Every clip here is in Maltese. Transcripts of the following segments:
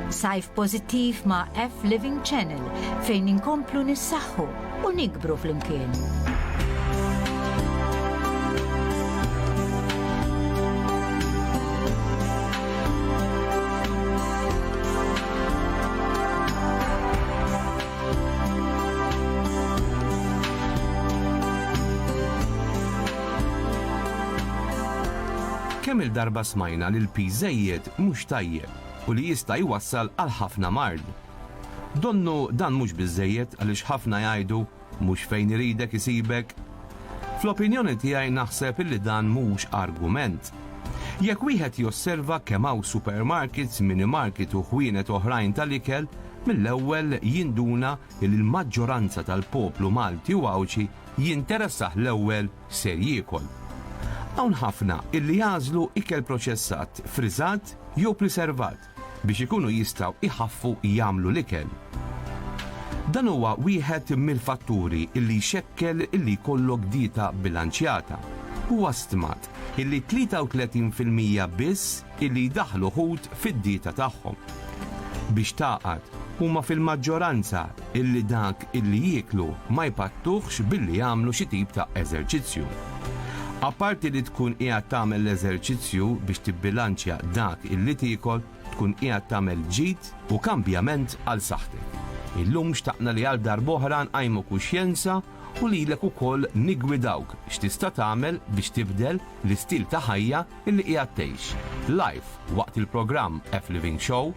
Sajf pożittiv ma' F Living Channel fejn inkomplu nissaħħu u nikbru flimkien. Kemm-il darba smajna li l-piż żejjed mhux tajjeb u li jista' jwassal għal ħafna mard. Donnu dan mhux biżżejjed għaliex ħafna jgħidu mhux fejn iridek isibek. Fl-opinjoni tiegħi naħseb illi dan mhux argument. Jekk wieħed josserva kemm hawn supermarkets, minimarket u ħwienet oħrajn tal-ikel, mill-ewwel jinduna illi l-maġġoranza tal-poplu Malti u Għawdxi jinteressah l-ewwel ser jiekol. Hawn ħafna illi jagħżlu ikel proċessat, friżat jew priservat biex ikunu jistgħu jħaffu jagħmlu l-ikel. Dan huwa wieħed mill-fatturi illi jxekkel illi jkollok dieta bilanċjata. Huwa stmat illi 33 fil-mija biss illi jdaħħlu ħut fid-dieta tagħhom. Biex tagħqad, huma fil-maġġoranza illi dak illi jieklu ma jpattuhx billi jagħmlu xi tip ta' eżerċizzju. Apparti li tkun qiegħed tagħmel l-eżerċizzju biex tibbilanċja dak illi tiekol, tkun qiegħed tagħmel ġid u kambjament għal saħħtek. Illum xtaqna li għal darb'oħra nqajmu kuxjenza u lilek ukoll niggwidawk x'tista' tagħmel biex tibdel l-istil ta' ħajja illi qiegħed tgħix. Live waqt il-programm F-Living Show,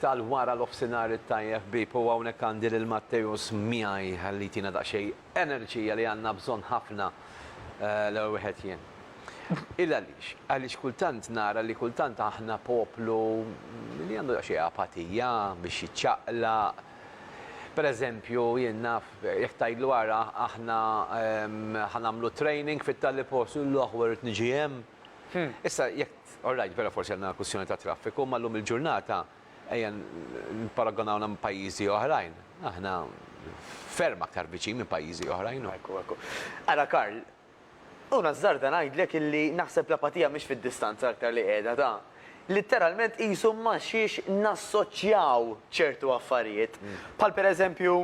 tal-wara nofsinhar it-tajjeb ħbieb u hawnhekk għandi lil Matteus miegħi ħalli jtina daqsxejn enerġija li għandna bżonn ħafna l-ewwel wieħed jien. Il għaliex? Għaliex kultant nara li kultant aħna poplu li għandu daqsxejn apatija biex jiċċaqlaq. Per eżempju jien naf jekk tgħidlu ara aħna ħa nagħmlu training fit-Tallipos, illoh weri tniġi hemm. Issa, jekk, all right, vera forsi għandna kwistjoni ta' traffiku, imma llum il-ġurnata, ejja nipparagonawna ma' pajjiżi oħrajn, aħna ferm aktar viċin minn pajjiżi oħrajn. Ekku, ekku. Ara Karl, u nażżarda ngħidlek illi naħseb l-apatija mhix fid-distanza aktar li qiegħda ta'. Litteralment qisu ma' xiex nassoċjaw ċertu affarijiet. Bħal pereżempju,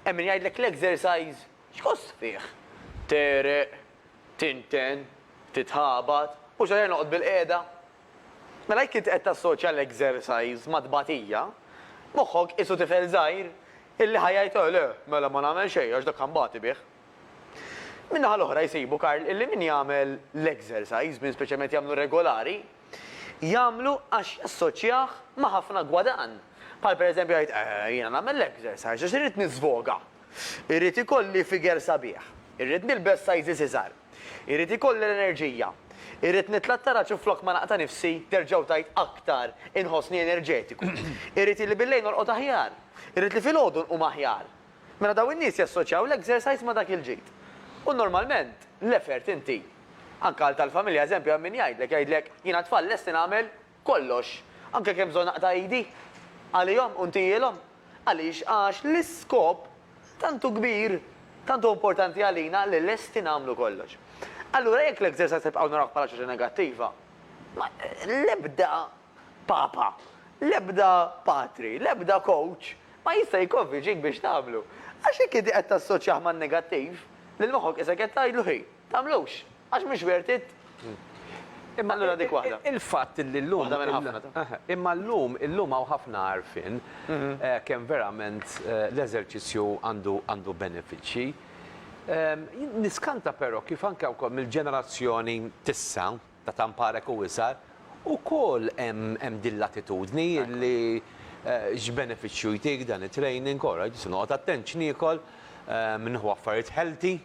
hemm min jgħidlek l-exercise x'kost fih? Tegħreq, Tinten, titħabat, u x'aħjar noqgħod bilqiegħda? Mela jekk int qed tassoċja l-exercise mat-tbatija, moħħok qisu tifel żgħir illi ħa jgħid eh le, mela ma nagħmel xejn għax dak ħanbati bih. Min-naħa l-oħra jsibu, Karl, illi min jagħmel l-exercise, min speċjalment jagħmlu regolari, jagħmlu għax jassoċjah ma' ħafna gwadann. Bħal pereżempju jgħid eh jiena nagħmel l-exercise għax irrid niżvoga. Irrid ikolli figure sabiħ. Irrid nilbes sizes iżgħar. Irrid ikolli l-enerġija. Irrid nitla' t-taraġ u flok ma naqta' nifsi, terġgħu tgħid aktar, inħossni enerġetiku. Irrid illi bil-lejl norqod aħjar. Irrid li filgħodu nqum aħjar. Mela dawn in-nies jassoċjaw l-exercise ma' dak il-ġid. U normalment l-effort inti. Anke għal tal-familja eżempju hemm min jgħidlek, jgħidlek, jiena t-tfal lesti nagħmel kollox, anke kemm bżonn aqta' idi, għalihom u ntihielhom. Għaliex? Għax l-iskop tant hu kbir, tant hu importanti għalina li lesti nagħmlu kollox. Allura jekk l-exercise nibqgħu narawh bħala xi ħaġa negattiva, ma l-ebda papa, l-ebda patri, l-ebda coach ma jista' jikkonvinċik biex tagħmlu. Għax jekk inti qed tassoċjah man-negattiv, lil moħħok isek qed tgħidlu hi, tagħmlux. Għax mhux worth it. Imma allura dik waħda. Il-fatt illi llum. Waħda minn ħafna ta'. Imma llum, illum hawn ħafna għarfien kemm verament l-eżerċizzju għandu għandu benefiċċji. Jien niskanta però kif anke wkoll mill-ġenerazzjoni t'issa, ta' Tamparek u isgħar, ukoll hemm hemm din l-attitudni illi x'benefiċċju jtik dan it-training, ora, ġiet se noqgħod attent x'niekol, nieħu affarijiet healthy.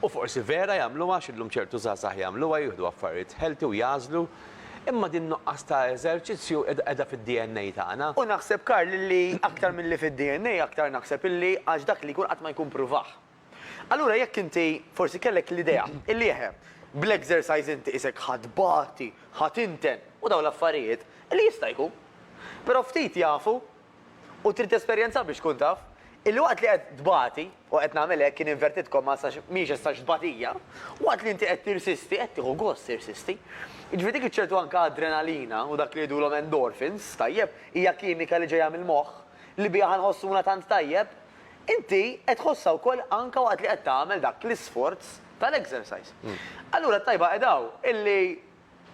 U forsi vera jagħmluha għax illum ċertu żgħażagħ jagħmluha, jieħdu affarijiet healthy u jagħżlu, imma din nuqqas ta' eżerċizzju qiegħda fid-DNA tagħna. U naħseb Karl illi aktar milli fid-DNA aktar naħseb illi għax dak li jkun qatt ma jkun pruvah. Allura jekk inti forsi kellek l-idea illi eħe, bl-exercise inti qisek ħa tbati, ħa tinten u dawn l-affarijiet, li jista' jkun. Però ftit jafu U trid tesperjenza biex tkun taf. Il-waqt li qed tbati, u qed nagħmel hekk in inverted commas għax mhijiex as such tbatija, waqt li inti qed tirsisti, qed tieħu gost tirsisti. Jiġifieri dik iċ-ċertu anke adrenalina u dak li jgħidulhom endorphins, tajjeb, hija kimika li ġejja mill-moħħ, li biha ħa nħossuna tant tajjeb, inti qed tħossha wkoll anke waqt li qed tagħmel dak l-isforz tal-exercise. Allura t-tajba qiegħda hawn, illi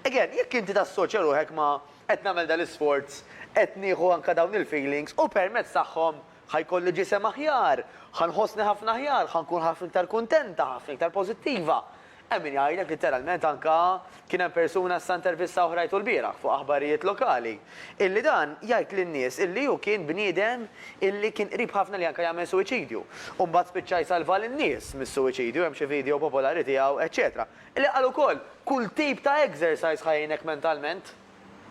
Again, jekk inti tassoċja ruħek ma' qed nagħmel dal-isforz, qed nieħu anke dawn il-feelings u permezz tagħhom ħa jkolli ġisem aħjar, ħa nħossni ħafna aħjar, ħa nkun ħafna iktar kuntenta, ħafna iktar pożittiva. Hemm min jgħidlek litteralment anke kien hemm persuna issa intervista oħra jgħidu lbieraħ fuq aħbarijiet lokali, illi dan jgħid lin-nies illi hu kien bniedem illi kien qrib ħafna li anke jagħmel suwiċidju u mbagħad spiċċa jsalva lin-nies mis-suwiċidju, hemm xi video popolari tiegħu, eċċetera. Li qal ukoll, Kull tip ta' exercise ħa jgħinek mentalment.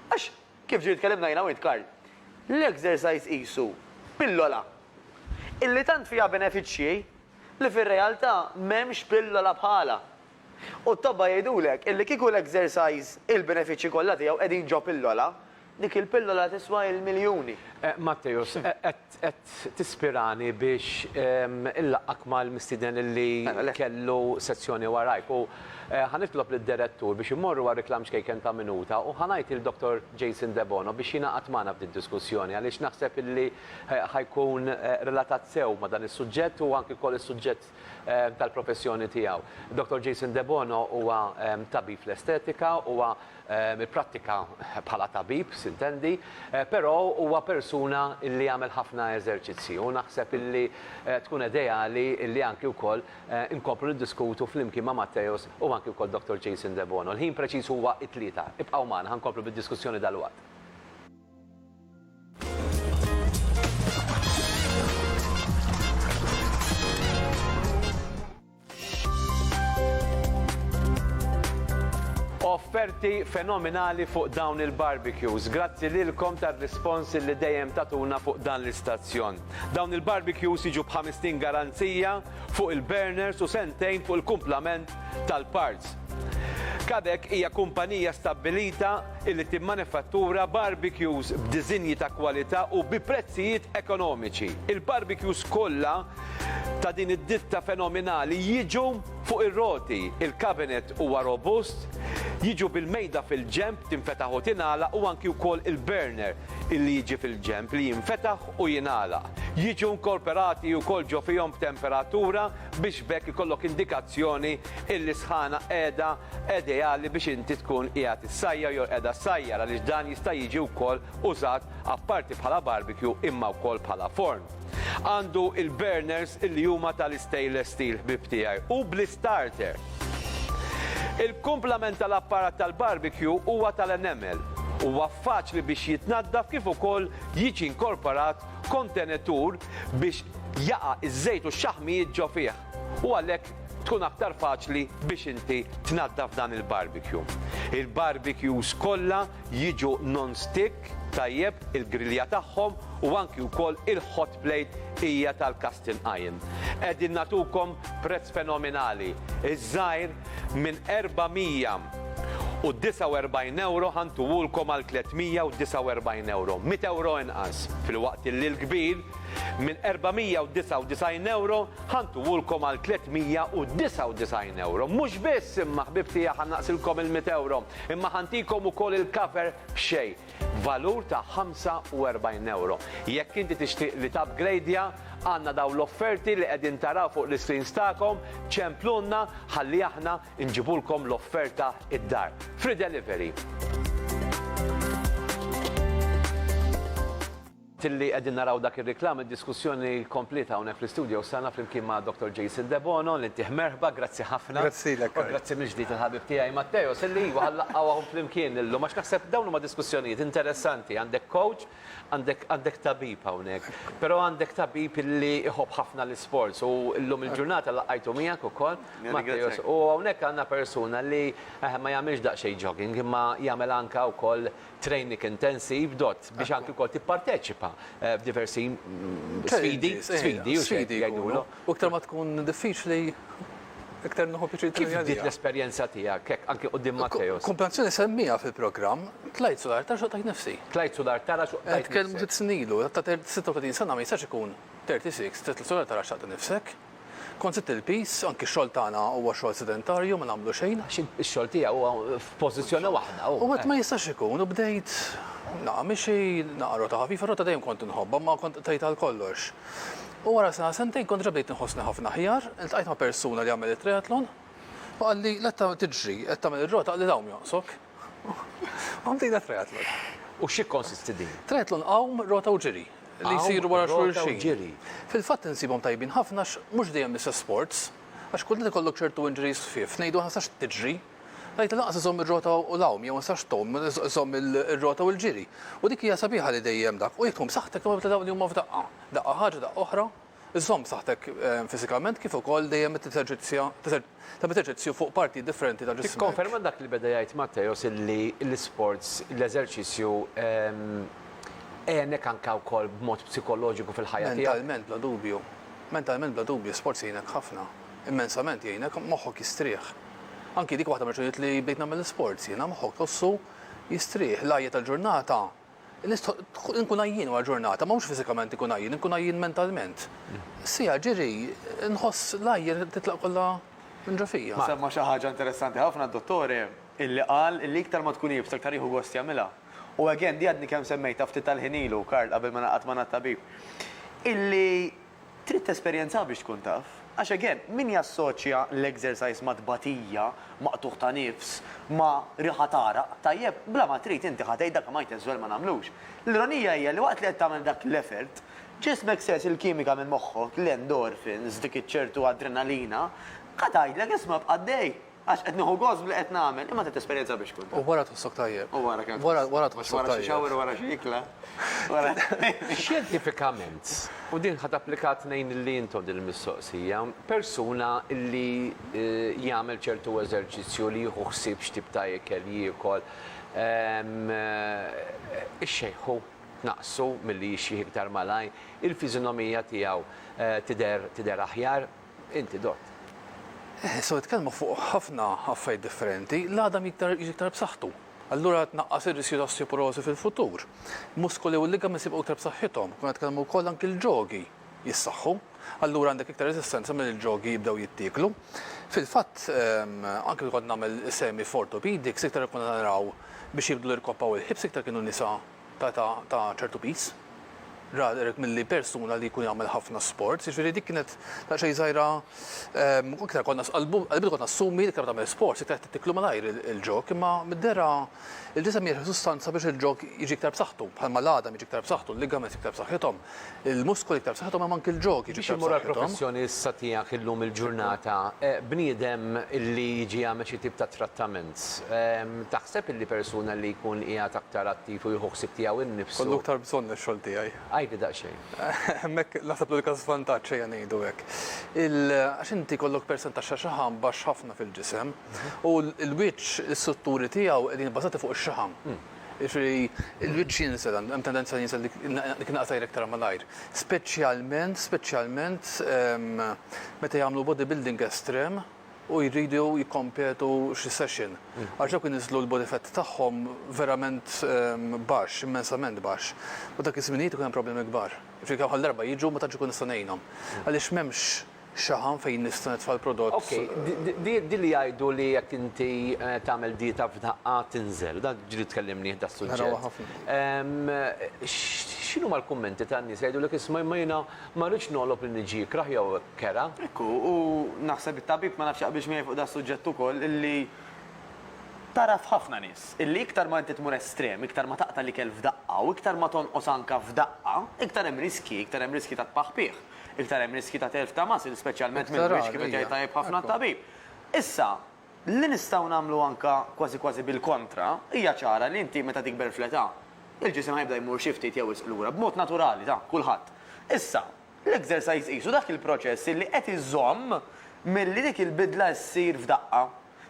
Għax, kif ġieli tkellimna jiena u int Karl, l-exercise qisu pillola illi tant fiha benefiċċji li fir-realtà m'hemmx pillola bħalha. U t-tobba jgħidulek illi kieku l-exercise il-benefiċċji kollha tiegħu qegħdin ġo pillola, Dik il-pillola tiswa il-miljuni. Matteus, qed tispirani biex inlaqqgħek mal-mistieden li kellu sezzjoni warajk u ħa nitlob lid-Direttur biex immorru għal riklam ċkejken ta' minuta u ħa ngħid lil Dottor Jason Debono biex jingħaqad magħna f'din diskussjoni għaliex naħseb illi ħa jkun relatat sew ma' dan is-suġġett u anki wkoll is-suġġett fil-kuntest tal-professjoni tiegħu. Dottor Jason Debono huwa tabib fl-estetika, huwa ipprattika bħala tabib, sintendi, però huwa persuna li jagħmel ħafna eżerċizzji u naħseb illi tkun ideali illi anki wkoll inkomplu niddiskutu flimkien ma' Matteus u anki wkoll Dottor Jason Debono. Il-ħin preċiż huwa t-tlieta. Ibqgħu magħna, ħa nkomplu bid-diskussjoni dalwaqt. offerti fenomenali fuq dawn il-barbecues. Grazzi lilkom tar-rispons li dejjem tatuna fuq dan l-istazzjon. Dawn il-barbecues jiġu b'ħamistin garanzija fuq il-burners u sentejn fuq il-kumplament tal-parts. Kadek hija kumpanija stabbilita li timmanifattura barbecues b'diżinji ta' kwalità u bi prezzijiet ekonomiċi. Il-barbecues kollha ta' din id-ditta fenominali jiġu fuq ir-roti, il-cabinet huwa robust, jiġu bil-mejda fil-ġenb tinfetaħ u tingħalaq u anki wkoll il-burner li jiġi fil-ġenb li jinfetaħ u jingħalaq. Jiġu inkorporati wkoll ġo fihom b'temperatura biex b'hekk ikollok indikazzjoni il-lisħana qiegħda ideali biex inti tkun qiegħed issajjar jew qiegħda ssajjar għaliex dan jista' jiġi wkoll użat apparti bħala barbecue imma wkoll bħala forn. Għandu il-burners illi huma tal-istainless steel ħbieb tiegħi u bl-istarter. Il-kumplament tal-apparat tal-barbecue huwa tal-enamel. Huwa faċli biex jitnaddaf kif ukoll jiġi inkorporat kontenitur biex jaqa' iż-żejt u x-xaħmijiet ġo fih. u għalhekk tkun aktar faċli biex inti tnaddaf dan il-barbecue. Il-barbecues kollha jiġu non-stick tajjeb il-grilja tagħhom u anki wkoll il-hot plate hija tal-casting iron. Qegħdin nagħtukom prezz fenominali, iż-żgħir minn 449 ewro ħa ntuhulkom għal 349 ewro, mitt ewro inqas, filwaqt illi l-kbir Minn 499 ewro ħa ntuwulkom għal 399 ewro. Mhux biss imma ħbieb tiegħi ħa naqsilkom il-mitt ewro, imma ħa ntikom ukoll il-cover b'xejn, valur ta' 45 ewro. Jekk inti tixtieq li tapgrejdja, għandna dawn l-offerti li qegħdin taraw fuq l-iscreens tagħkom, ċemplulna ħalli aħna nġibulkom l-offerta id-dar. Free delivery. Tilli qegħdin naraw dak ir-riklam, id-diskussjoni kompliet hawnhekk fl-istudios tagħna flimkien ma' Dottor Jason Debono, li ntih merħba, grazzi ħafna. Grazzilek, Kay. U grazzi mill-ġdid il-ħabib tiegħi Matteos, illi iva ħa laqgħuhom flimkien illum, għax naħseb dawn huma diskussjonijiet interessanti, għandek coach, għandek għandek tabib hawnhekk, però għandek tabib illi iħobb ħafna l-isports u llum il-ġurnata laqajtu miegħek ukoll, Matteos, u hawnhekk għandna persuna li ma jagħmilx daqsxejn jogging imma jagħmel anke wkoll training intensive dott biex anki wkoll tipparteċipa f'diversi sfidi, sfidi u sfidi jgħidulu. U iktar ma tkun diffiċli iktar nħu pjaċir Kif dik l-esperjenza tiegħek hekk anki qudiem Matteo? Kumpanzjoni semmija fil-programm, tlajt sular ta' xoqtajt nifsi. Tlajt sular tara xoqtajt. Tkellmu sitt snilu, ta' 36 sena ma jistax ikun 36, tlajt sular tara xaqta nifsek. Kont żidt il-piż, anki x-xogħol tagħna huwa xogħol sedentarju, ma nagħmlu xejn. Għax ix-xogħol tiegħi huwa f'pożizzjoni waħda. U għedt ma jistax ikun u bdejt naqa' mixi, naqa' rota ħafif, ir-rota dejjem kont inħobbha imma kont qtajt għal kollox. U wara sena sentejn kont diġà bdejt inħossni ħafna aħjar, iltqajt ma' persuna li jagħmel it-triathlon u qalli, letta tiġri, qed tagħmel ir-rota, qalli l-għawm jonqsok. U bdejna triathlon. U x'ikkonsisti din? Triathlon għawm, rota u ġiri. li jsiru wara xulxin. Fil-fatt insibhom tajbin ħafna għax mhux dejjem l-istess sports, għax kultant ikollok ċertu injuries ħfief, ngħidu aħna ma tistax tiġri, ngħidlu lanqas iżżomm ir-rota u l-għawm jew ma tistax tgħum, iżżomm ir-rota u l-ġiri. U dik hija sabiħa li dejjem dak, u jekk tgħum b'saħħtek imma ta' dawn li huma f'daqqa. Daqqa ħaġa, daqqa oħra. Iżżomm b'saħħtek fiżikament kif ukoll dejjem qed teżerċizzja tagħmel eżerċizzju fuq partijiet differenti ta' ġismek. Tikkonferma dak li beda jgħid Matteos illi l-isports, l-eżerċizzju, għenek anke wkoll b'mod psikoloġiku fil-ħajja tiegħek? Mentalment bla dubju. Mentalment bla dubju, sports jgħinek ħafna. Immensament jgħinek, moħħok jistrieħ. Anki dik waħda mir-raġunijiet li bdejt nagħmel l-isports jiena, moħħok tħossu jistrieħ. L-għajja tal-ġurnata. Nistħoqq inkun għajjien wara ġurnata, ma mhux fiżikament inkun għajjien, inkun għajjien mentalment. Siegħa ġiri nħoss l-ajr titlaq kollha minn ġo fija. Semma xi ħaġa interessanti ħafna d-dottore illi qal illi iktar ma tkun iebsa iktar jieħu gost jagħmilha. U again, di għadni kemm semmejtha ftit tal-ħin ilu, Karl, qabel ma naqgħad magħna t-tabib, illi, Trid tesperjenzaha biex tkun taf. Għax again, min jassoċja l-exercise ma' tbatija, ma' qtugħ ta' nifs, ma' riħa t'għaraq, tajjeb, bla ma trid inti ħa tgħid dak li ma jtess żwell ma nagħmlux. L-ironija hija li waqt li qed tagħmel dak l-effort, ġismek sers il-kimika minn moħħok, l-endorphins, dik iċ-ċertu adrenalina, ħa tgħidlek isma' bqa' għaddej. Għax qed nieħu gost b'li qed nagħmel, imma trid tesperjenza biex tkun taf. U wara tħossok tajjeb. U wara kemm. Wara, wara tħossok tajjeb. Wara xi shower, wara xi ikla. Xjentifikament, u din ħa tapplika tnejn li intom din il-mistoqsija, persuna li jagħmel ċertu eżerċizzju li jieħu ħsieb x'tip ta' ikel jiekol, ix-xejħu tnaqqsu milli jixjieħ iktar malajr, il-fiżinomija tiegħu tidher, tidher aħjar, Inti dott. So jitkellmu fuq ħafna affarijiet differenti, l-għadam jiktar jiġi iktar b'saħħtu. Allura tnaqqas ir-riskju ta' osteoporożi fil-futur. Muskoli u ligaments jibqgħu iktar b'saħħithom. Konna nitkellmu wkoll anki l-ġogi jissaħħu. Allura għandek iktar reżistenza milli l-ġogi jibdew jittieklu. Fil-fatt, anki meta kont nagħmel is-semi f'orthopedics iktar konna naraw biex jibdlu l-irkoppa u l-hips iktar kienu nisa. ta' età ta' ċertu piż. Rather milli persuna li jkun jagħmel ħafna sports, jiġifieri dik kienet daqsxejn żgħira iktar konna qalbitha konna assumi li iktar ma tagħmel sports iktar qed tiklu malajr il-ġog imma mid-dehra il-ġisem jirħi sustanza biex il-ġog jiġi iktar b'saħħtu bħalma l-għadam jiġi iktar b'saħħtu, l-ligaments iktar b'saħħithom. Il-muskoli iktar b'saħħithom hemm anki l-ġog jiġu iktar b'saħħithom. Biex immur għall-professjoni issa tiegħek illum il-ġurnata, bniedem li jiġi jagħmel xi tip ta' trattament, taħseb illi persuna li jkun qiegħed aktar attiv u jieħu ħsieb tiegħu nnifsu. Jkollu iktar bżonn ix-xogħol tiegħi. Għidli daqsxejn. Hemmhekk naħseb l-unika żvantaġġ ejja ngħidu hekk. Għax inti jkollok persentaġġ ta' xaħam baxx ħafna fil-ġisem u l-wiċċ, l-istrutturi tiegħu qegħdin ibbażati fuq ix-xaħam. Jiġifieri l-wiċċ jinsel, hemm tendenza li jinsel dik in-naqa t'ajr iktar malajr. Speċjalment, speċjalment meta jagħmlu bodybuilding estrem u jridu jikkompetu xi session. Għax dawk iniżżlu l-body fat tagħhom verament baxx, immensament baxx. U dak iż-żminijiet ikun hemm problemi kbar. Jiġifieri kemm ħa darba jiġu ma tantx ikun nista' ngħinhom. Għaliex m'hemmx. Xaħam fejn nista' nitfa' l-prodott. Ok, din li jgħidu li jekk inti tagħmel dieta f'daqqa tinżel, dan ġili tkellimnih das-suġġett. Narawha ħafna. X'inhuma l-kummenti tan-nies li jgħidulek isma' imma jiena ma rridx nogħlob li niġi ikrah jew kera. Ekku, u naħseb it-tabib ma nafx jaqbilx miegħi fuq das-suġġett ukoll illi tara f'ħafna nies illi iktar ma inti tmur estrem, iktar ma taqta' l-ikel f'daqqa u iktar ma tonqos anke f'daqqa, iktar hemm riskji, iktar hemm riskji ta' tpaħpiħ. Iktar hemm riskji ta' telf ta' muscle, speċjalment mill-wiċċ, kif qed jgħid tajjeb ħafna t-tabib. Issa, li nistgħu nagħmlu anke kważi kważi bil-kontra, hija ċara li inti meta tikber fl-età, il-ġisem ħa jibda jmur xi ftit jew wisq lura, b'mod naturali ta' kulħadd. Issa, l-exercise qisu dak il-proċess li qed iżomm milli dik il-bidla ssir f'daqqa.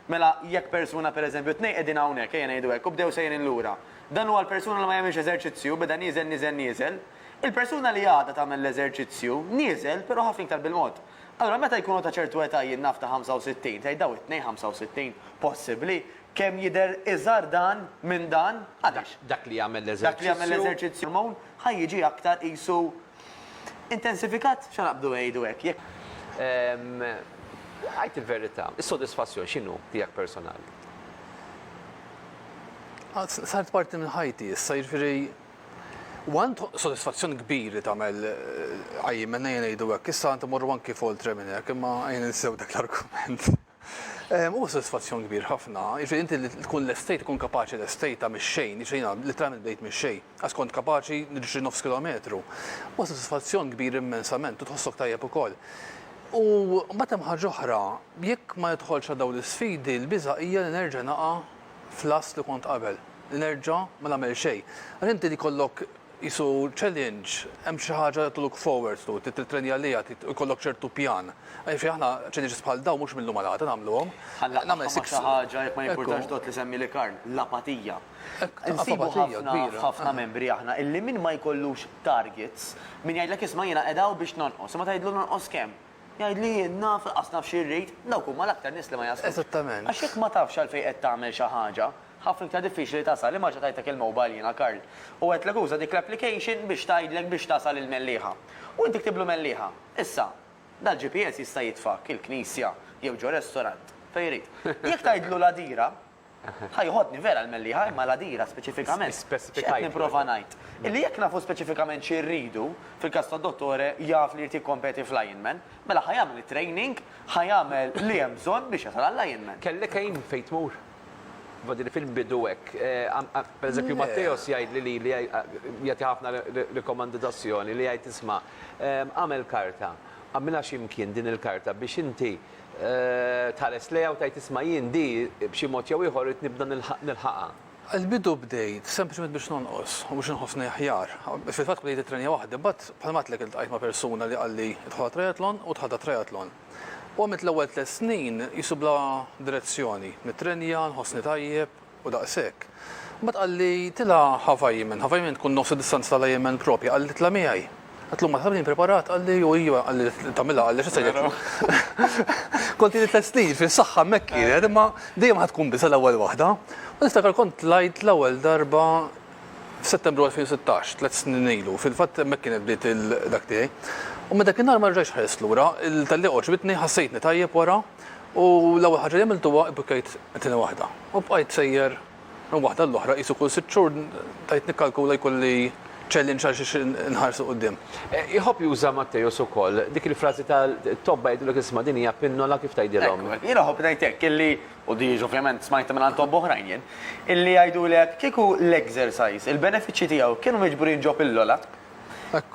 Mela, jekk persuna, per eżempju, tnejn qegħdin hawnhekk, ejja ngħidu hekk, u bdew sejrin lura. Dan huwa l-persuna li ma jagħmilx eżerċizzju, beda nieżel, nieżel, nieżel. Il-persuna li għadha tagħmel l-eżerċizzju, nieżel, però ħafna iktar bil-mod. Allura meta jkunu ta' ċertu età jien naf ta' 65, tgħid dawn it-tnejn 65, possibbli? Kemm jidher iżgħar dan minn dan? Għaliex? Dak li jagħmel l-eżerċizzju. Dak li jagħmel l-eżerċizzju. Ħa jiġi aktar qisu. Intensifikat? Shut up bdew jgħidu hekk, jekk. Għid il-verità, is-sodisfazzjon x'inhu tiegħek personali? Saret parti minn ħajti issa, jiġifieri u għand sodisfazzjon kbir li tagħmel qajjim, ejja ngħidu hekk, issa għand immorru anki f'oltre minn hekk, imma ejja ninsew dak l-argument. Huwa sodisfazzjon kbir ħafna, jiġifieri inti li tkun lestejt, tkun kapaċi lestejtha mix-xejn, jiġifieri jiena litteralment bdejt mix-xejn, għax kont kapaċi niġri nofs kilometru. Huwa sodisfazzjon kbir immensament u tħossok tajjeb ukoll. U mbagħad hemm ħaġa oħra, jekk ma nidħolx għal dawn l-isfidi, l-biża' hija li nerġa' naqa' fl-għażż li kont qabel, li nerġa' ma nagħmel xejn. Għax inti li jkollok Qisu challenge, hemm xi ħaġa li to look forward to, trid tittrenja għaliha, trid ikollok ċertu pjan. Jiġifieri aħna challenges bħal dawn mhux mill-lum għal għada nagħmluhom. Bħal laqgħa ma' xi ħaġa, jekk ma jimpurtax dot li semmi li Karl, l-apatija. Insibu ħafna f'ħafna membri aħna illi min ma jkollux targets, min jgħidlek isma' jiena qiegħda hawn biex nonqos, imma tgħidlu nonqos kemm? Jgħidli jien naf, laqqas naf xi rrid, dawk huma l-aktar nies li ma jaslux. Għax jekk ma tafx għalfejn qed tagħmel xi ħaġa, Ħafna iktar diffiċli tasal, imma reġa' tajtek il-mobile jiena Karl. U għedtlek uża dik l-application biex tgħidlek biex tasal il-Mellieħa. U inti ktiblu Mellieħa. Issa, dal-GPS jista' jitfgħek il-knisja jew ġo restaurant, fejn jrid. Jekk tgħidlu l-Għadira, ħa joħodni vera l-Mellieħa, imma l-Għadira speċifikament. X'qed nipprova ngħid? Illi jekk nafu speċifikament xi rridu, fil-każ tad-dottore jaf li jrid jikkompeti fl-Ironman, mela ħa jagħmel it-training, ħa jagħmel li hemm bżonn biex jasal għall-Ironman. Kellek għin fejn tmur? Iva, din fil bidu hekk. Per eżempju, Matteos jgħid li li jagħti ħafna rekomandazzjoni li jgħid isma' għamel karta, għamilha xi mkien din il-karta biex inti tħares lejha u tgħid isma' jien di b'xi mod jew ieħor irid nibda nilħaqha. Il-bidu bdejt sempliċement biex nonqos u biex inħossni aħjar. Fil-fatt bdejt it-trenja waħdi, imbagħad bħalma għedtlek iltqajt ma' persuna li qalli idħol għat-triathlon u dħalt għat-triathlon. U għamilt l-ewwel tliet snin qisu bla direzzjoni, mitrennja, nħossni tajjeb, u daqshekk. Mbagħad qalli, Tilgħa Havaiaman, Havaiaman tkun nofs id-distanza tal-Ironman propja, qalli, Itla' miegħi. Għedtlu, Ma taħseb li jien preparat? Qalli, U ijwa, qalli, li tagħmilha, qalli, x'se jgħidlek? Kont ili tliet snin, fis-saħħa hemmhekk kienet, imma dejjem ħa tkun biża' l-ewwel waħda. U niftakar kont tlajt l-ewwel darba f'Settembru 2016, tliet snin ilu, fil-fatt hemmhekk kienet bdiet il-dak tiegħi. U minn dakinhar ma rġajtx ħarist lura, il-tellieqa għoġbitni, ħassejtni tajjeb wara u l-ewwel ħaġa li għamilt huwa ibbukkejt it-tieni waħda. U bqajt sejjer minn waħda għall-oħra qisu kull sitt xhur bdejt nikkalkula jkolli challenge għal xiex inħares 'l quddiem. Iħobb juża Matteus ukoll dik il-frażi ta' tobba jgħidulek isma' din hija pinnola kif tgħidilhom. Ekku, jiena iħobb ngħid hekk, illi u di jiġu ovvjament smajtha minn għand tobba oħrajn jien, illi jgħidulek kieku l-exercise, il-benefiċċji tiegħu kienu miġburin ġo pillola,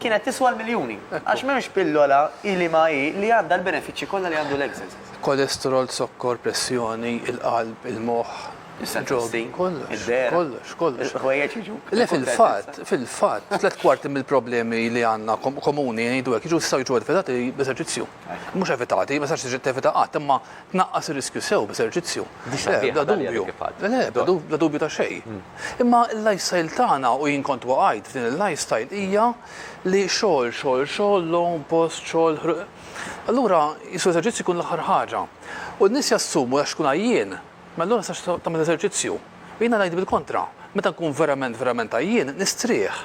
kienet tiswa l-miljuni. Għax m'hemmx pillola hi li ma hi li għandha l-benefiċċji kollha li għandu l-exercise. Kolesterol, zokkor, pressjoni, il-qalb, il-moħħ, il-ġobni, kollox, kollox, kollox. Le fil-fatt, fil-fatt, tliet kwarti mill-problemi li għandna komuni ngħidu hekk jiġu jistgħu jiġu evitati b'eżerċizzju. Mhux evitati, ma sax tiġi tevita qatt, imma Tnaqqas ir-riskju sew b'eżerċizzju. Bla dubju. Le, bla dubju ta' xejn. Imma l-lifestyle tagħna, u jien kont waqajt f'din il-lifestyle, hija li xogħol, xogħol, xogħol, logħob, post, xogħol, ħruq. Allura qisu l-eżerċizzju jkun l-aħħar ħaġa. U n-nies jassumu għax tkun għajjien, mela allura ma tistax tagħmel eżerċizzju. U jiena ngħid bil-kontra, meta nkun verament, verament għajjien, nistrieħ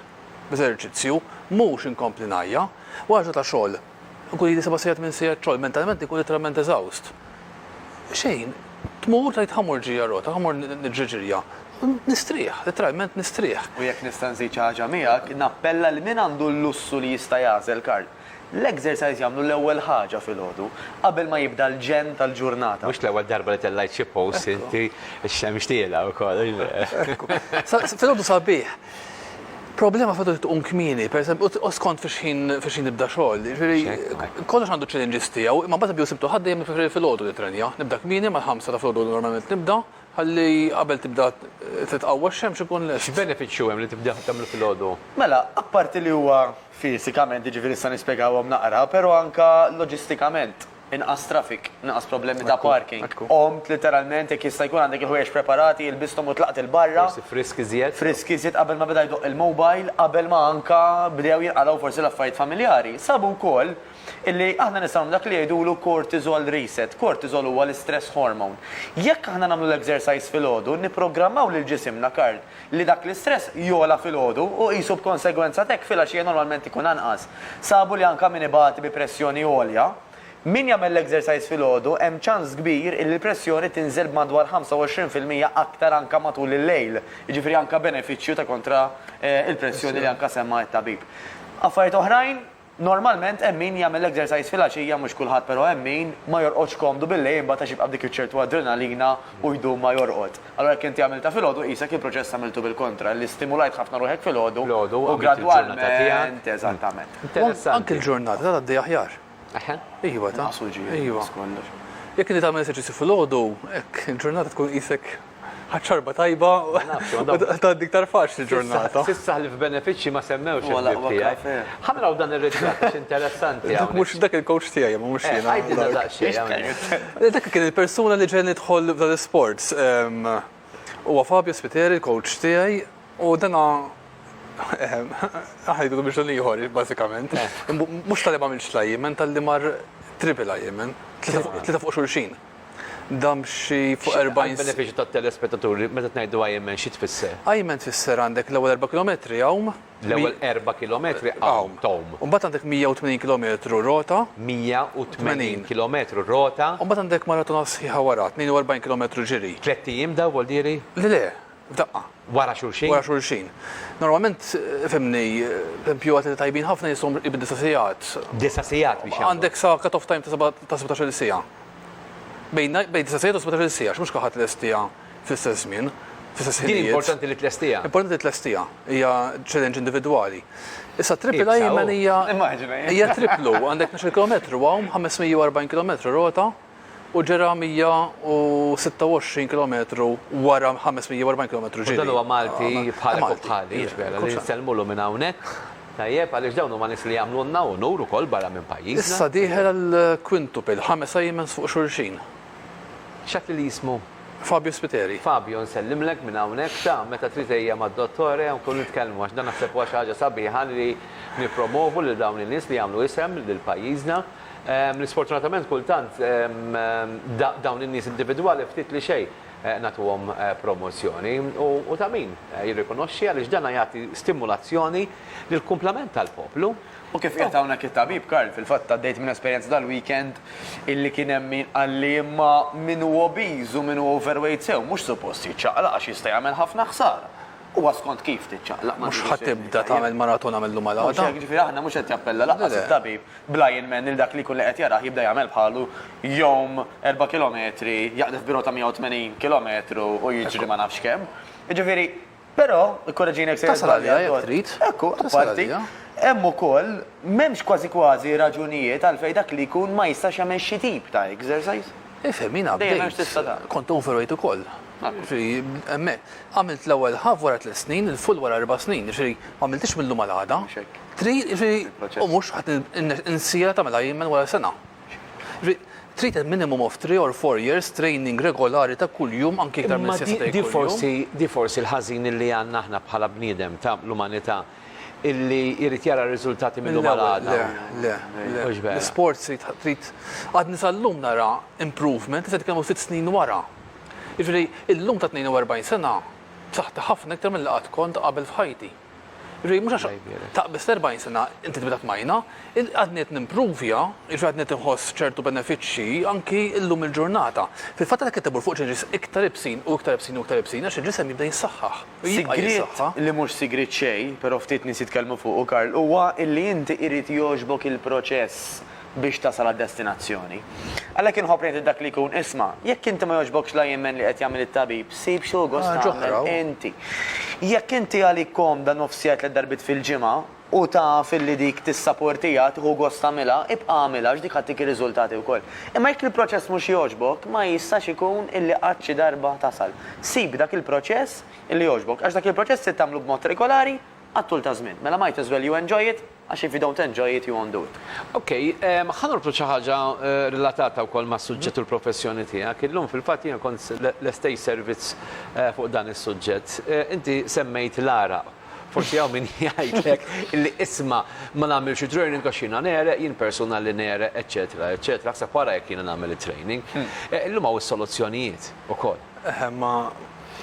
b'eżerċizzju, mhux inkompli ngħajja. Wara ġurnata ta' xogħol, Inkun ili seba' sigħat minn sigħat xogħol, mentalment inkun litteralment eżawst. Xejn, tmur tgħid ħa mur ġirja rota, ħa mur niġri ġirja. Nistrieħ, litteralment nistrieħ. U jekk nista' nżid xi ħaġa miegħek, nappella lil min għandu l-lussu li jista' jagħżel kard, l-exercise jagħmlu l-ewwel ħaġa filgħodu, qabel ma jibda l-ġenn tal-ġurnata. Mhux l-ewwel darba li tellgħajt xi post inti, ix-xemx tielgħa wkoll. Filgħodu sabiħ, Problema f'għadu li tqum kmieni, pereżempju, u skont fi xħin fi xħin nibda xogħol. Jiġifieri kollox għandu challenges tiegħu, imma mbagħad bdew sibtu ħadd dejjem nippreferi filgħodu nitrenja. Nibda kmieni mal-ħamsa ta' filgħodu normalment nibda, ħalli qabel tibda titqawwa x-xemx inkun lest. X'benefiċċju hemm li tibda tagħmlu filgħodu? Mela, apparti li huwa fisikament, jiġifieri nista' nispjegahom naqra, però anke loġistikament. Inqas traffic, inqas problemi ta' parking. Qomt litteralment, jekk jista' jkun għandek il-ħwejjeġ preparati, ilbisthom u tlaqt 'il barra. Forsi frisk iżjed. Frisk iżjed qabel ma beda jdoqq il-mobile, qabel ma anke bdew jinqalgħu forsi l-affarijiet familjari. Sabu wkoll illi aħna nistgħu nagħmlu dak li jgħidulu cortisol reset. Cortisol huwa l-istress hormone. Jekk aħna nagħmlu l-exercise filgħodu, nipprogrammaw lil ġisimna, Karl, li dak l-istress jogħla filgħodu u qisu b'konsegwenza t'hekk filgħaxija normalment ikun anqas. Sabu li anke min ibati bi pressjoni għolja, min jagħmel l-exercise filgħodu hemm ċans kbir illi l-pressjoni tinżel b'madwar 25 fil-mija aktar anke matul il-lejl, jiġifieri anke benefiċċju ta' kontra l-pressjoni li anke semma t-tabib. Affarijiet oħrajn? Normalment hemm min jagħmel exercise filgħaxija mhux kulħadd però hemm min ma jorqodx komdu billejl imbagħad għax jibqa' b'dik iċ-ċertu adrenalina u jdum ma jorqod. Allura jekk inti għamiltha filgħodu qisek il-proċess għamiltu bil-kontra li stimulajt ħafna ruħek filgħodu u gradwalment eżattament. Anki l-ġurnata ta' tgħaddi aħjar. Eħe. Iva ta. Jekk inti tagħmel eżerċizzju filgħodu hekk il-ġurnata tkun qisek Ħadt xorba tajba u tgħaddi iktar faċli l-ġurnata. S'issa ħlief benefiċċji ma semmewx il-ħbieb tiegħi. Ħa naraw dan ir-ritratt għax interessanti. Dak mhux, dak il-coach tiegħi, imma mhux jiena. Għidilna daqsxejn hawnhekk. Dak kien il-persuna li ġegħelni nidħol f'dan l-isport. Huwa Fabio Spiteri, il-coach tiegħi, u dana aħna ngħidu biex dan ieħor bażikament. Mhux talli m'għamilx l-IMN, talli mar triple IMN, tlieta fuq xulxin. Dam xi fuq 40 X'inhi għall-benefiċċju tat-telespettaturi meta tngħidu Ironman xi tfisser? Ironman tfisser għandek l-ewwel erba' kilometri għawm. L-ewwel erba' kilometri għawm, tgħum. U mbagħad għandek 180 kilometru rota. 180 kilometru rota. U mbagħad għandek maratona sħiħa wara, 42 kilometru ġiri. Tlett ijiem dawn, Waldieri? Le le, f'daqqa. wara xulxin? Wara xulxin. Normalment, fhimni, l-impjugat li tajbin ħafna jistgħu qrib id-disa' sigħat. Disa' sigħat biex jagħmlu. Għandek sa cut-off time ta' seba' ta' sebgħtax-il siegħa. Bejn bejn disa' sigħat u sebgħtax-il siegħa, għax mhux kulħadd lestiha fl-istess żmien, fl-istess ħinijiet. Din importanti li tlestiha. Importanti li tlestiha. Hija challenge individwali. Issa triple Ironman hija. Immaġina. Hija triplu, għandek tnax-il kilometru hawn, 540 kilometru rota. U ġera 126 kilometru wara 540 kilometru ġiri. U dan huwa Malti bħalek u bħali, jiġifieri li nsellmulu minn hawnhekk, tajjeb, għaliex dawn huma nies li jagħmlulna unur ukoll barra minn pajjiżna. Issa dieħel għall-quintuple, ħames Aimens fuq xulxin. X'għedtli li jismu? Fabio Spiteri. Fabio, nsellimlek minn hawnhekk, ta, meta trid ejja mad-Dottore u nkunu nitkellmu għax dan naħseb huwa xi ħaġa sabiħa li nippromovu lil dawn in-nies li jagħmlu isem lil pajjiżna. L-isfortunatament kultant dawn in-nies individwali ftit li xejn nagħtuhom promozzjoni. U ta' min jirrikonoxxi għaliex dan jagħti stimulazzjoni lill-kumplament tal-poplu. U kif qiegħed hawnhekk it-tabib Karl, fil-fatt għaddejt minn esperjenza dal-weekend illi kien hemm min qalli imma min hu obiż u min hu overweight sew mhux suppost jiċċaqlaq għax jista' jagħmel ħafna ħsara. Huwa skont kif tiċċaqlaq ma' dik is-sensità. Mhux ħa tibda tagħmel maratona mill-lum għal għada. Mhux hekk, jiġifieri aħna mhux qed jappella lanqas it-tabib bl-iron man lil dak li jkun li qed jarah jibda jagħmel bħalu jgħum erba' kilometri, jaqdef birota 180 kilometru u jiġri ma nafx kemm. Jiġifieri, però, ikkoreġini jekk sejjer żball. Tasal għaliha jekk trid. Ekku, apparti, hemm ukoll, m'hemmx kważi kważi raġunijiet għalfejn dak li jkun ma jistax jagħmel xi tip ta' exercise. Ifhem, jiena bdejt, kont overweight ukoll. Hemmhekk, għamilt l-ewwel half wara tliet snin, il-full wara erba' snin, jiġifieri ma għamilthiex mil-lum għal għada. Trid, jiġifieri, u mhux ħadd insieha tagħmilha jien minn wara sena. Jiġifieri, trid a minimum of three or four years training regolari ta' kuljum anki iktar minn sitt ta' kuljum. Di forsi l-ħażin illi għandna aħna bħala bniedem ta' l-umanità illi jrid jara r-riżultati mil-lum għal għada. Le, le, le. Mhux vera. L-isports trid, għadni sal-lum nara improvement, issa qed nitkellmu sitt snin wara. Jiġifieri, illum ta' 42 sena, b'saħħti ħafna iktar milli qatt kont qabel f'ħajti. Jiġifieri, mhux għax taqbiżt 40 sena, inti tibda tmajna. Għadni qed nimpruvja, jiġifieri għadni qed inħoss ċertu benefiċċji anki llum il-ġurnata. Fil-fatt għadek qed timmur fuq ġilġis iktar ibsin u iktar ibsin u iktar ibsin għax il-ġisem jibda jissaħħaħ. Sigriet li mhux sigriet xejn, però ftit nies jitkellmu fuqu, Karl, huwa illi inti irid jogħġbok il-proċess biex tasal għad-destinazzjoni. Għalhekk inħobb ngħid lil dak li jkun, isma', jekk inti ma jogħġbokx la jemmen li qed jagħmel it-tabib, sib xi hu gost tagħmel inti. Jekk inti għalik komda nofsija tliet darbiet fil-ġimgħa u taf illi dik tissaportiha, tieħu gost tagħmilha, ibqa' agħmilha għax dik ħa ttik ir-riżultati wkoll. Imma jekk il-proċess mhux jogħġbok, ma jistax ikun illi qatt xi darba tasal. Sib dak il-proċess illi jogħġbok, għax dak il-proċess trid tagħmlu b'mod regolari, għat-tul ta' żmien. Mela might as well you enjoy it għax if you don't enjoy it you won't do it. Ok, ħa norbtu xi ħaġa relatata wkoll mas-suġġett u l-professjoni tiegħek. Illum fil-fatt jiena kont lest għid servizz fuq dan is-suġġett. Inti semmejt l-għaraq. Forsi hawn min jgħidlek li isma' ma nagħmilx it-training għax jiena negħreq, jien persuna li negħreq, eċċetera, eċċetera, aħseb wara jekk jiena nagħmel it-training. Illum hawn is-soluzzjonijiet ukoll. Eħe, imma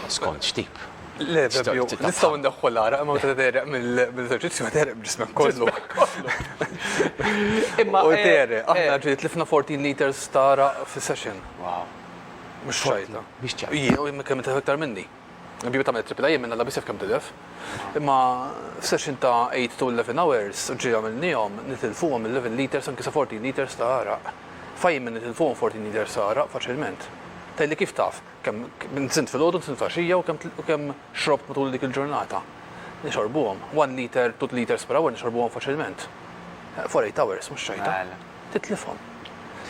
Skont x'tip? Le, Fabio, nistgħu ndaħħu l-għara, imma meta tereq mill-eżerċizzju tereq ġismek kollu. Imma u eh, tereq, eh. aħna ġiet lifna 14 liters tara fi session. Wow. Mhux xajta. Mhux ċajta. Jien u kemm ta' aktar minni. Bibi ta' metri pila jien minna labisef kemm tilef. Imma session ta' 8 to 11 hours ġi għamilnihom nitilfuhom 11 liters anke sa 14 liters ta' għara. Fajn minn nitilfuhom 14 liters ta' għara faċilment. Tajli kif taf, Kemm nsimt filgħodu, nsimt f'għaxija u kemm xrobt matul dik il-ġurnata. Nixorbuhom. One liter, two liters per hour nixorbuhom faċilment. For eight hours, mhux xejta. Titlifhom.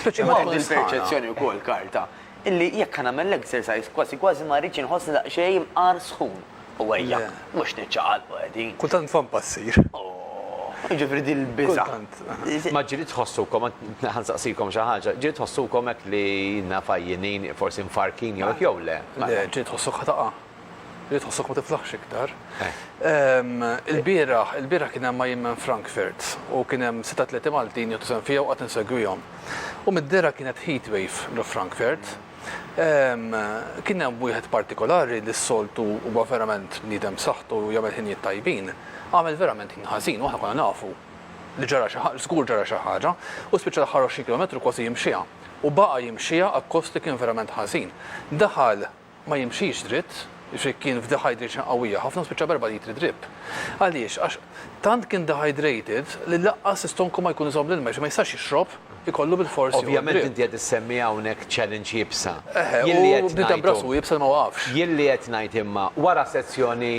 Imma hemm il-perċezzjoni wkoll, Karl, ta' illi jekk ħa nagħmel l-exercise kważi kważi ma rridx inħossni daqsxejn imqar sħun. U ejja, mhux niċċaqalqu qegħdin. Kultant nfhom passier. Jiġifieri din il-biża'. Kultant. Ma ġieli tħossukom, ħa nsaqsikom xi ħaġa, ġieli tħossukom hekk li inna fajjinin, forsi mfarrkin jew hekk jew le? Le, ġieli tħossok ħa taqa'. Ġieli tħossok ma tiflaħx iktar. Ilbieraħ, ilbieraħ kien hemm IMM Frankfurt u kien hemm sitt atleti Maltin jieħdu sehem fiha u qatt insegwihom. U mid-dehra kienet heatwave l' Frankfurt. Kien hemm wieħed partikolari li s-soltu huwa verament bniedem b'saħħtu u jagħmel ħinijiet tajbin, għamel verament ħin ħażin u aħna konna nafu li ġara xi ħaġa, żgur ġara xi ħaġa, u spiċċa l-aħħar għoxrin kilometru kważi jimxiha. U baqa' jimxiha akkost li kien verament ħażin. Daħal ma jimxix dritt, jiġifieri kien f'dehydration qawwija ħafna u spiċċa b'erba' litri drip. Għaliex? Għax tant kien dehydrated li lanqas l-istonku ma jkun iżomm l-ilma, jiġifieri ma jistax jixrob. ikollu bilfors joqgħod dritt. Ovvjament inti qed issemmi hawnhekk challenge iebsa. Eħe, u bniedem b'rasu iebsa li ma waqafx. Jien li qed ngħid imma, wara sezzjoni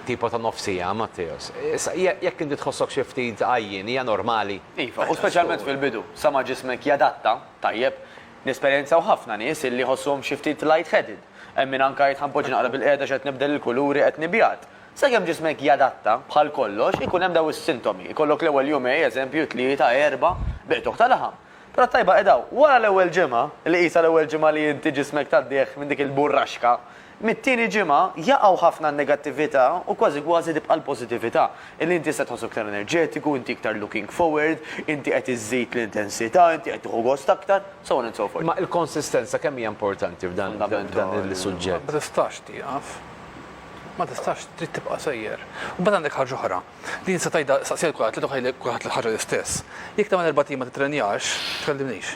tipo ta' nofs siegħa, Matteos, issa jekk inti tħossok xi ftit għajjien hija normali. Iva, u speċjalment fil-bidu, sa ma ġismek jadatta, tajjeb. Nesperjenzaw ħafna nies illi jħossuhom xi ftit light-headed. Hemm min anke jgħid ħa npoġġi naqra bilqiegħda għax qed nibdel il-kuluri, qed nibjad. Sakemm ġismek jadatta, bħal kollox, ikun hemm daw is-sintomi, ikollok l-ewwel jumej, eżempju, tlieta, erbgħa, biqtugħ ta' laħam. Però t-tajba qed hawn, wara l-ewwel ġimgħa, li qisha l-ewwel ġimgħa li inti ġismek tgħaddih minn dik il-burraxka, mit-tieni ġimgħa jaqgħu ħafna n-negattività u kważi kważi tibqa' l-pożittività, illi inti tista' tħossok iktar enerġetiku, inti iktar looking forward, inti qed iżżid l-intensità, inti qed tieħu gost aktar, so on and so forth. Imma l-konsistenza kemm hija importanti f'dan is-suġġett? Ma tistax tieqaf. Ma tistax, trid tibqa' sejjer. U mbagħad għandek ħaġa oħra, din se tgħidha staqsiha lil kulħadd, tgħidilha lil kulħadd l-ħaġa l-istess. Jekk tagħmel erbat ijiem ma tittrenjax, tkellimnix.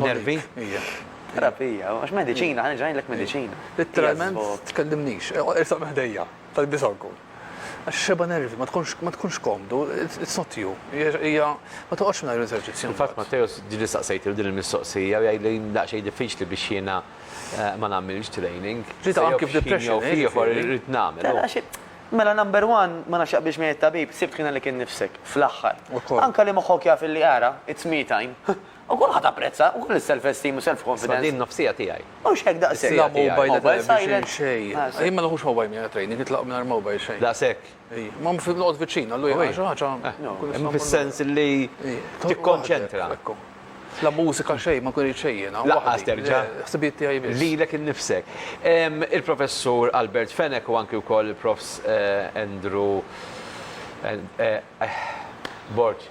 Nervi? Ija. Terapija, u għax mediċina, ħa nerġa' ngħidlek mediċina. Litteralment tkellimnix, irsaq minn ħdejja, talbisha wkoll. Għax xebgħa nervi, ma tkunx ma tkunx komdu, it's not you. Hija ma toqgħodx mingħajr l-eżerċizzju. Fil-fatt Matteus ġieli staqsejtilu din il-mistoqsija u jgħidli daqsxejn diffiċli biex jiena Ma nagħmilx training. Ġiet anki f'depression. Jew f'ieħor irrid nagħmel. Mela xi, mela number one, ma nafx jaqbilx miegħi t-tabib, sibt ħina li kien nifsek, fl-aħħar. Anke li moħħok jaf illi ara, it's me time. U kulħadd apprezza, ukoll is-self esteem u self confidence. Imma din nofsija tiegħi. Mhux hekk daqshekk. Bla mobile, bla xejn. Jien ma nħux mobile miegħi għat-training, nitlaq mingħajr mobile xejn. Daqshekk. Imma mhux noqgħod viċin, allura jien xi ħaġa nkun nista'. Fis-sens li tikkonċentra. Ekku. La mużika xejn, ma nkun irid xejn jiena. Lanqas terġa'. Ħsibijiet tiegħi biss. Lilek innifsek. Il-Professur Albert Fenech u anki wkoll il-Profs Andrew Borg.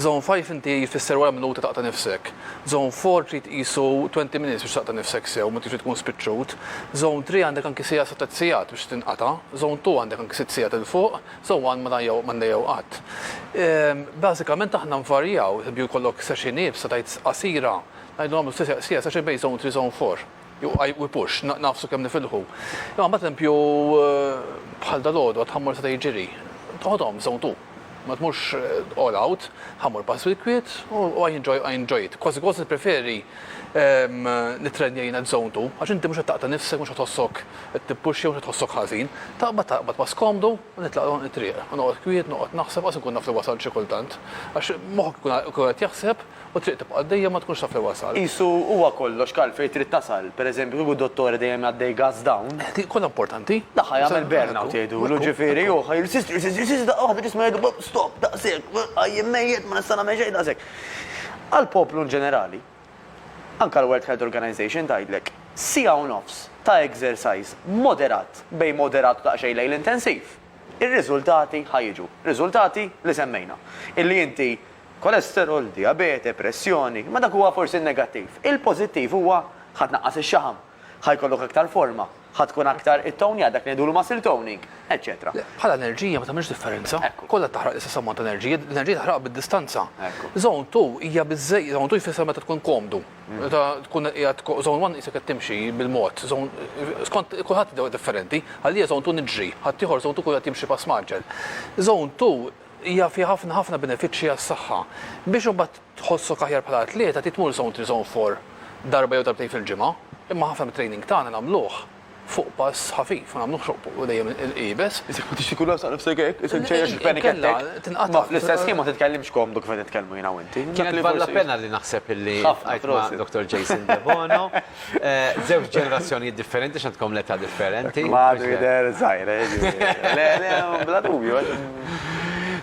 Zone five inti jfisser wara minuta taqta' nifsek. Zone four trid qisu twenty minutes biex taqta' nifsek sew meta trid tkun spiċċut. Zone three għandek anki siegħa sa tliet siegħat biex tinqata'. Zone two għandek anki sitt siegħat 'il fuq. Zone one ma għandha jew qatt. Bażikament aħna nvarjaw, pereżempju jkollok session iebsa tgħid qasira, ngħidu nagħmlu siegħa session bejn zone three zone four. Jew I we push, nagħfsu kemm nifilħu. Imma mbagħad empju bħal dalgħodu għad ħammur seta' jiġiri. Toħodhom sew ntu. Ma tmurx all out, ħammur pass fil-kwiet u I enjoy I enjoy it. Kważi kważi nippreferi nittrenja jiena at zone two għax inti mhux qed taqta' nifsek, mhux qed tħossok qed tippuxxja, mhux qed tħossok ħażin. Taqbad taqbad pass komdu u nitlaq it-triq. U noqgħod kwiet, noqgħod naħseb, qas inkun naf li wasalt xi kultant. Għax moħħok ikun qed jaħseb. U t-triq tibqa' għaddejja ma tkunx taf fejn wasalt. Qisu huwa kollox Karl fejn trid tasal. Per eżempju kieku dottore dejjem jgħaddej gas down. Dik kollha importanti. Dak ħa jagħmel burn out jgħidulu, ġifieri hu ħa jirsisti, jirsisti, jirsisti daqqa waħda ġismu jgħidlu bop, stop, daqshekk, għajjien mejjet, ma nista' nagħmel xejn, daqshekk. Għall-poplu in ġenerali, anke l-World Health Organization tgħidlek, siegħa u nofs ta' exercise moderat, bejn moderat u daqsxejn lejn l-intensiv, ir-riżultati ħa jiġu. Riżultati li semmejna. Illi inti. Kolesterol, dijabete, pressjoni, imma dak huwa forsi n-negattiv. Il-pożittiv huwa ħa tnaqqas ix-xaħam, ħa jkollok aktar forma, ħa tkun aktar ittownjat, dak li ngħidulu muscle toning, eċċetera. Le, bħala enerġija ma tagħmilx differenza. Ekku. Kollha qed taħraq l-istess ammont ta' enerġija, l-enerġija taħraqha bid-distanza. Ekku. Zone two hija biżżej, zone two jfisser meta tkun komdu. Meta tkun qiegħed ko, zone one qisek qed timxi bil-mod, zone, skont kulħadd differenti, għalija zone two niġri, ħaddieħor zone two jkun qed jimxi pass mgħaġġel. Zone two Hija fiha ħafna ħafna benefiċċji għas-saħħa. Biex imbagħad tħossok aħjar bħala atleta trid tmur Zone Three Zone Four darba jew darbtejn fil-ġimgħa, imma ħafna mit-training tagħna nagħmluh fuq pass ħafif, ma nagħmluhx fuq dejjem iebes. Isek ma tixtieqx ikollok taqtaf sejk hekk, isek ċejjeħ xi panic attack. Le, le, tinqata'. Imma fl-istess ħin ma titkellimx komdu kif qed nitkellmu jiena u inti. Kienet bħala pena li naħseb illi ltqajt ma' Dottor Jason Debono. Żewġ ġenerazzjonijiet differenti x'għandkom l-età differenti. Madu jidher żgħir, le, le, bla dubju.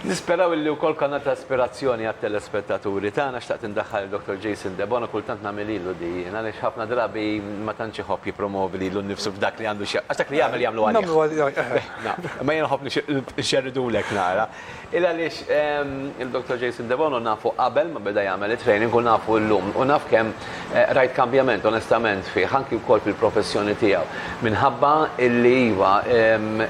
Nisperaw illi wkoll kanal ta' ispirazzjoni għat-telespettaturi tagħna xtaqt indaħħal lil Dottor Jason Debono kultant nagħmililu din għaliex ħafna drabi ma tantx iħobb jippromovi lilu nnifsu f'dak li għandu x'jaqsam. Għax dak li jagħmel jagħmlu għalih. Imma jien nħobb nxerridulek nara. Il għaliex lil Dottor Jason Debono nafu qabel ma beda jagħmel it-training u nafu llum u naf kemm rajt kambjament onestament fih anki wkoll fil-professjoni tiegħu minħabba illi iva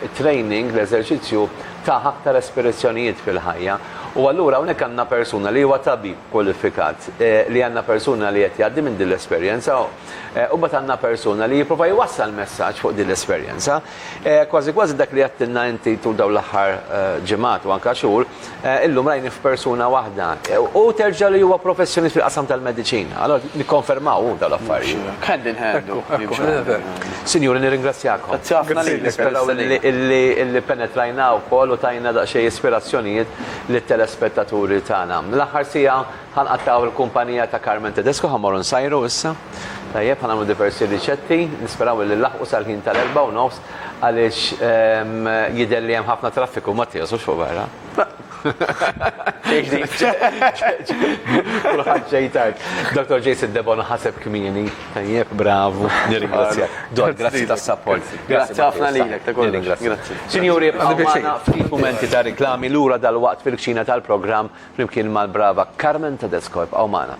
it-training l-eżerċizzju tah aktar espirizzjonijiet fil-ħajja u allura hawnhekk għandna persuna li huwa tabib kwalifikat li għandna persuna li qed jgħaddi minn din l-esperjenza u mbagħad għandna persuna li jipprova jwassal messaġġ fuq din l-esperjenza. Kważi kważi dak li għedtilna inti tul dawn l-aħħar ġimgħat u anke xhur, illum rajnih f'persuna waħda. Hu terġa' li huwa professjonist fil-qasam tal-mediċina. Allura nikkonfermaw hu dawn l-affarijiet. Hand in hand hu. Jimxu hand in hand. Sinjuri nirringrazzjakom. Grazzi ħafna lilek. Nisperaw illi penetrajna wkoll u tajna daqsxejn ispirazzjonijiet lit-telespettaturi tagħna. L-aħħar siegħa. Ħanqattgħu l-kumpanija ta' Carmen Tedesco, ħa mmorru nsajru issa. Tajjeb, ħa nagħmlu diversi riċetti, nisperaw illi nlaħħqu sal-ħin tal-erbgħa u nofs għaliex jidher li hemm ħafna traffiku, Mattias, mhux fuq barra? Le. Xejn ġdid. Kulħadd ġej tard. Dottor Jason Debono ħaseb kmieni. Tajjeb, bravu, nirringrazzjak. Don, grazzi tas-sapport. Grazzi ħafna lilek ta' kollox. Nirringrazzjak. Sinjuri, bqgħu magħna ftit mumenti ta' riklami lura dalwaqt fil-kċina tal-programm flimkien mal-brava Carmen Tedesco. Ibqgħu magħna.